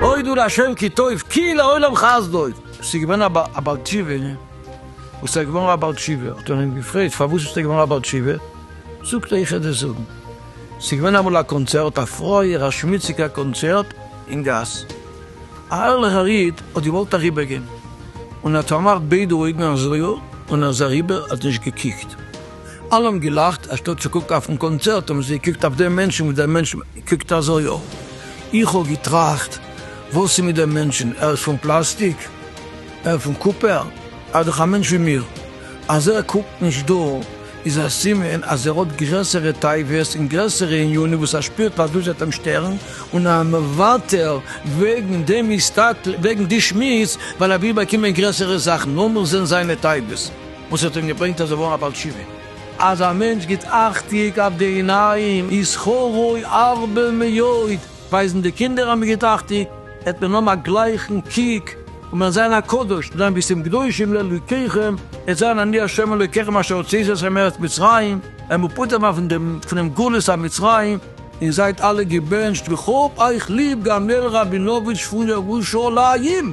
אוי דו לה' כי טוב, כי לעולם חסדו. ס'איז געווען א בעל תשובה, וואס איז געווארן א בעל תשובה, האט מען אים געפרעגט פארוואס ביסטו געווארן א בעל תשובה, זאגט ער איך וועל דיר זאגן, ס'איז געווען אמאל א קאנצערט, א פרויער א שמוציגע קאנצערט אין גאס, א ערליכער איד האט געוואלט אריבער גיין און ער האט פארמאכט ביידע אויגן אזויו און ער איז אריבער האט נישט געקוקט אלע האבן געלאכט אנשטאט צו קוקן אויפן קאנצערט האבן זיי געקוקט אויף דעם מענטשן וואס דער מענטשן קוקט אזויו איך האב געטראכט וואס איז מיט דעם מענטשן ער איז פון פלאסטיק? ער פון קופער? ער איז דאך א מענטש ווי מיר. אז ער קוקט נישט דא איז א סימן אז ער האט גרעסערע תאוות און גרעסערע עניינים וואס ער שפירט אז דאס וועט אים שטערן און ער מוותר וועגן דעם מסתכל וועגן די שמוץ ווייל ער וויל באקומען גרעסערע זאכן, לאמיר זען זיינע תאוות וואס האט אים געברענגט אז ער ווארט א בעל תשובה. אז א מענטש גיט אכטיג אויף די עיניים איז שכרו הרבה מאוד. ווייזן די קינדער האבן מיר געטראכט די העט מען האבן א גלייכן קוק און מען זיין א קדוש און זיין ביסים קדושים לאלוקיכם און זיין אני השם אלוקיכם אשר הוצאתי אתכם מארץ מצרים ווען מען פטור זיין פון דעם פונעם גלות א מצרים און זייט אלע געבענטשט וכהאב אייך ליב גאמעל ראבינאוויטש פון ירושלים.